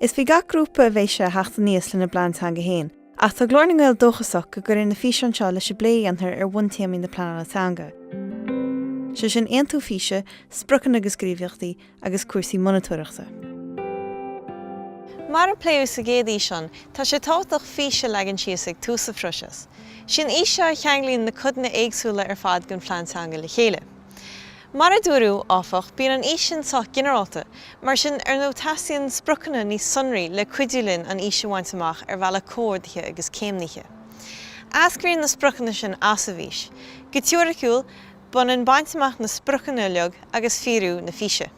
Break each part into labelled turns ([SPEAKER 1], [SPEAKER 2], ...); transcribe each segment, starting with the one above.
[SPEAKER 1] Is faoi gach grúpa a bheidh sé a theacht aníos lena bplean teanga féin, ach tá Glór na nGael dóchasach go gcuirfidh na físeáin seo leis an bplé a dhéanfar ar bhuntéamaí na pleanála teanga, sé sin aontú físe, spriocanna agus gníomhaíochtaí, agus cúrsaí
[SPEAKER 2] monatóireachta. Mar a pléadh sa gcéad fhíseán, tá sé tábhachtach fís a leagan síos ag tús an phróiseas. Is í an fhís seo a cheanglaíonn na codanna éagsúla ar fad den phlean teanga le chéile. Mar a dúradh, áfach, bíonn an fhís sin sách ginearálta, mar sin, ar ndóigh teastaíonn spriocanna níos sonraí le cuidiú linn an fhís a bhaint amach ar bhealach comhordaithe agus céimnithe. Eascraíonn na spriocanna sin as an bhfís. Go teoiriciúil, b'ionann baint amach na spriocanna uilig agus fíorú na físe.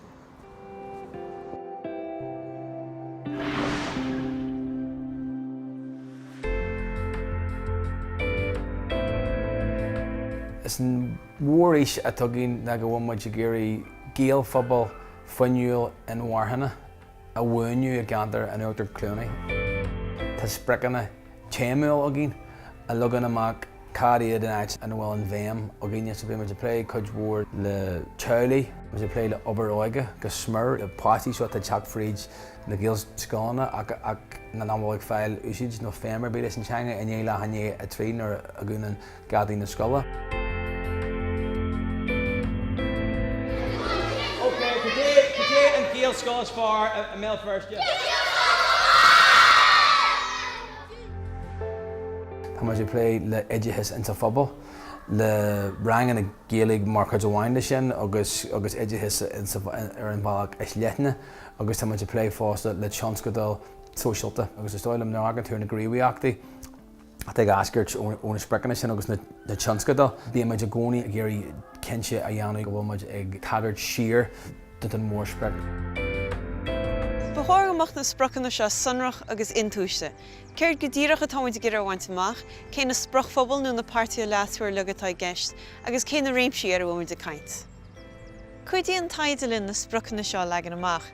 [SPEAKER 3] Is an mhórfhís atá againn ná go bhfuil muid ag iarraidh Gaelphobal fuinniúil inmharthana a bhuanú i gceantar an Uachtar Chluanaí. Tá spriocanna téamúil againn a leagann amach Cad iad an áit ina bhfuil an bhéim againne? So bhí muid ag plé cuid mhór le teaghlaigh, bhí muid ag plé le obair óige go smior, le páistí, so atá ag teacht fríd na Gaelscoileanna ach nach bhfuil ag fáil úsáid nó feidhm ar bith leis an teanga i ndiaidh leath i ndiaidh a trí nuair a dhúnann geataí na scoile. Ok, cad é, cad é an Gaelscoil is fearr
[SPEAKER 4] i mBéal Feirste?
[SPEAKER 3] Tá muid ag plé le oideachas insa phobal, le ranganna Gaeilge mar chuid amháin de sin agus oideachas ar an bhealach is leithne agus tá muid ag plé fosta le tionscadail sóisialta agus is dóigh liom nuair a thagann tú ar na gníomhaíochtaí atá ag eascairt ó na spriocanna sin agus na tionscadail, bíonn muid i gcónaí ag iarraidh cinnte a dhéanamh go bhfuil muid ag tagairt siar. do don mhórsprioc. Ba
[SPEAKER 2] chóir go mbeadh na spriocanna seo sonrach agus intomhaiste. Céard go díreach atá muid ag iarraidh a bhaint amach, cé na spriocphobail nó na páirtithe leasmhara uilig atá i gceist, agus cé na réimsí ar a bhfuil muid ag caint? Cuidíonn taighde linn na spriocanna seo a leagan amach.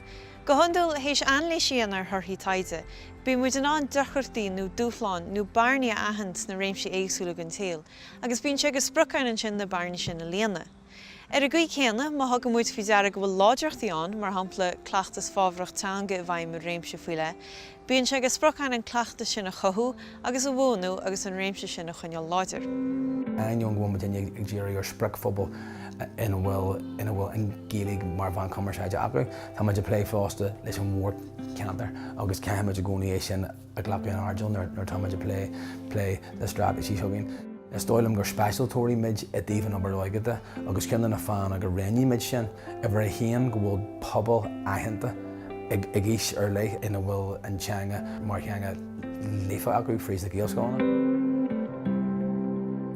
[SPEAKER 2] Go hiondúil, théis anailís a dhéanamh ar thorthaí taighde, bíonn muid in ann deacrachtaí nó dúshláin nó bearnaí a aithint sna réimsí éagsúla den tsaol, agus bíonn sé de sprioc againn ansin na bearnaí sin a líonadh. Ar an gcaoi céanna, má thugann muid faoi deara go bhfuil láidreachtaí ann, mar shampla, cleachtas fábhrach teanga i bhfeidhm i réimse faoi leith, bíonn sé de sprioc againn an cleachtas sin a chothú agus a bhuanú agus an réimse sin a choinneáil láidir. Ainneoin go
[SPEAKER 3] bhfuil muidinne ag díriú ar spriocphobal ina bhfuil an Ghaeilge mar mheán cumarsáide acu, tá muid ag plé fosta leis an mhórcheantar agus caithfidh muid i gcónaí é sin a. a ghlacadh in airdeall nuair atá muid ag plé le straitéisí chugainn. Is dóigh liom gur speisialtóirí muid i dtaobh an obair óige de agus ceann de na fáthanna go ndéanann muid sin, uimhir a haon, go bhfuil pobal aitheanta ag aois ar leith ina bhfuil an teanga mar theanga líofa acu fríd na Gaelscoileanna.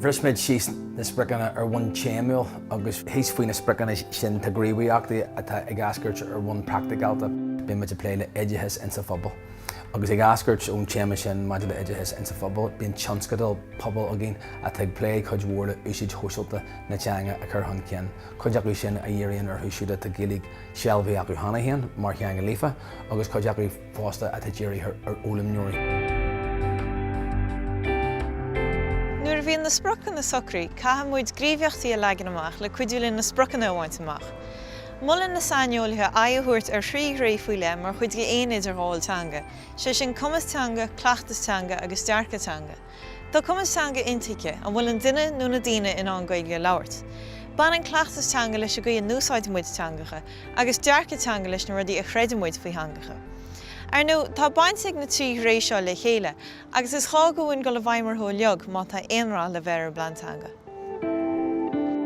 [SPEAKER 3] Bhris muid síos na spriocanna ar bhonn téamúil agus thíos faoi na spriocanna sin tá gníomhaíochtaí atá ag eascairt ar bhonn praiticiálta. Beidh muid ag plé le oideachas insa phobal. Agus ag eascairt ón téama sin maidir le oideachas insa phobal, bíonn tionscadail pobail againn atá ag plé cuid mhór le úsáid shóisialta na teanga a chur chun cinn, cuid acu sin a dhíríonn orthu siúd atá Gaeilge sealbhaithe acu cheana féin mar theanga líofa agus cuid acu fosta atá dírithe ar fhoghlaimeoirí.
[SPEAKER 2] Nuair a bhíonn na spriocanna socraithe, caithfidh muid gríomhaíochtaí a leagan amach le cuidiú linn na spriocanna a bhaint amach. Molann na saineolaithe aghaidh a thabhairt ar thrí thréith faoi leith mar chuid d'aon idirghabháil teanga, sé sin cumas teanga, cleachtas teanga agus dearcadh teanga. Tá cumas teanga intuigthe, an bhfuil an duine nó na daoine in ann Gaeilge a labhairt? Baineann cleachtas teanga leis an gcaoi a n-úsáideann muid teangacha, agus dearcadh teanga leis na rudaí a chreideann muid faoi theangacha. Ar ndóigh, tá baint ag na trí thréith seo le chéile, Agus is gá dhúinn dul i bhfeidhm orthu uilig má tá aon rath le bheith ar an bPlean
[SPEAKER 3] Teanga.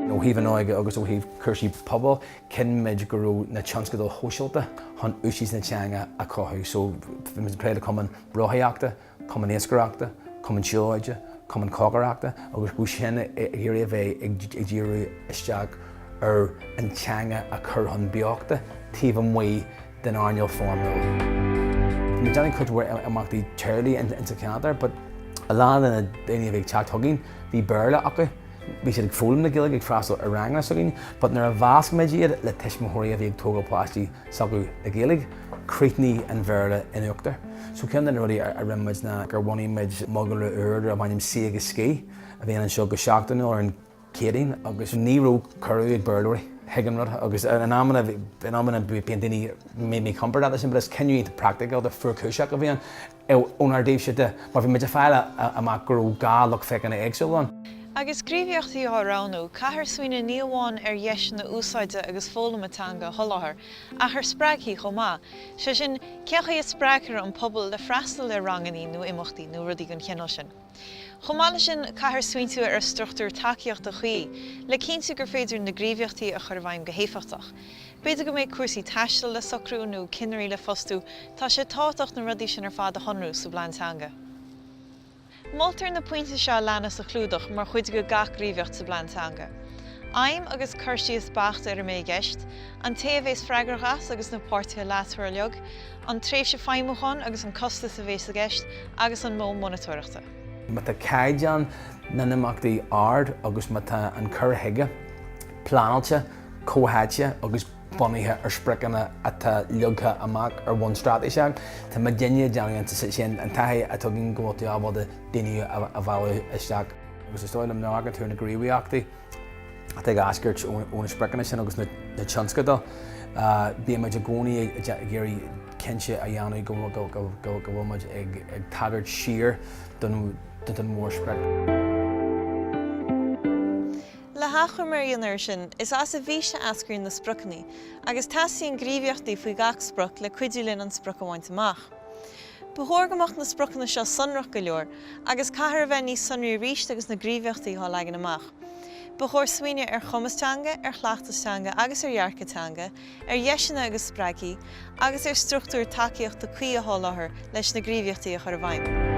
[SPEAKER 3] Ó thaobh an óige agus ó thaobh cúrsaí pobail, chinn muid go raibh na tionscadail shóisialta chun úsáid na teanga a chothú so bhí muid ag plé le cumann rothaíochta, cumann iascaireachta, cumann siúlóide, cumann cócaireachta agus bhí sin ag iarraidh a bheith ag díriú isteach ar an teanga a chur chun beochta taobh amuigh den airneál foirmiúil. Bhí mé ag déanamh cuid mhór imeachtaí teaghlaigh ins sa cheantar but a lán de na daoine a bhí ag teacht chugainn, bhí Béarla acu, bhí siad ag foghlaim na Gaeilge, ag freastal ar ranganna s'againn but nuair a mheasc muid iad le tuismitheoirí a bhí ag tógáil páistí s'acu le Gaeilge, críochnaíonn an Bhéarla in uachtar. So ceann de na rudaí a rinne muid ná gur bhunaigh muid mogalra úr darb ainm Suí agus Scíth a bhíonn anseo go seachtainiúil ar an Céadaoin agus ní raibh cuireadh ag Béarlóirí chuig an rud agus in amanna bíonn daoine míchompordach leis sin but is cinneadh iontach praicticiúlta fuarchúiseach a bhí ann ónár dtaobhse de mar bhí muid ag fáil amach go raibh dhá lucht féachana éagsúil ann. Agus
[SPEAKER 2] gníomhaíochtaí á roghnú, caithfear smaoineamh ní amháin ar dheiseanna úsáide agus foghlama teanga a sholáthar ach ar spreagthaí chomh maith, sé sin, cén chaoi a spreagthar an pobal le freastal ar rangannaí nó imeachtaí nó rudaí den chineál sin. Chomh maith leis sin, caithfear smaointiú ar struchtúr tacaíochta chuí le cinntiú gur féidir na gníomhaíochtaí a chur i bhfeidhm go héifeachtach. B'fhéidir go mbeidh cúrsaí taistil le socrú nó cinnirí le fostú, tá sé tábhachtach na rudaí sin ar fad a shonrú sa bplean teanga. Moltar na pointí seo a leanas a chlúdach mar chuid de gach gníomhaíocht sa bplean teanga, Aidhm agus cur síos beacht ar a mbeidh i gceist, an té a bhéas freagrach as agus na páirtithe leasmhara uilig, an tréimhse feidhmiúcháin agus an costas a bhéas i gceist, agus an modh monatóireachta. Má
[SPEAKER 3] tá caighdeán na n-imeachtaí ard agus má tá an cur chuige pleanáilte, comhtháite agus bunaithe ar spriocanna atá leagtha amach ar bhonn straitéiseach, tá muid ag déanamh dianiarracht ansin an taithí a thugann go bhfuil tú ábalta daoine a mhealladh isteach. Agus is dóigh liom ná go leagann tú na gníomhaíochtaí. atá ag eascairt ó na spriocanna sin agus na tionscadail, bíonn muid i gcónaí ag iarraidh cinnte a dhéanamh go bhfuil muid ag tagairt siar don
[SPEAKER 2] mhórsprioc. Le hachoimre a dhéanamh air sin, is as an bhfís a eascraíonn na spriocanna, agus teastaíonn gníomhaíochtaí faoi gach sprioc le cuidiú linn an sprioc a bhaint amach. Ba chóir go mbeadh na spriocanna seo sonrach go leor agus caithfear a bheith níos sonraí arís agus na gníomhaíochtaí á leagan amach. Ba chóir smaoineamh ar chumas teanga, ar chleachtas teanga agus ar dhearcadh teanga, ar dheiseanna agus spreagthaí, agus ar struchtúir tacaíochta cuí a sholáthar leis na gníomhaíochtaí a chur i bhfeidhm.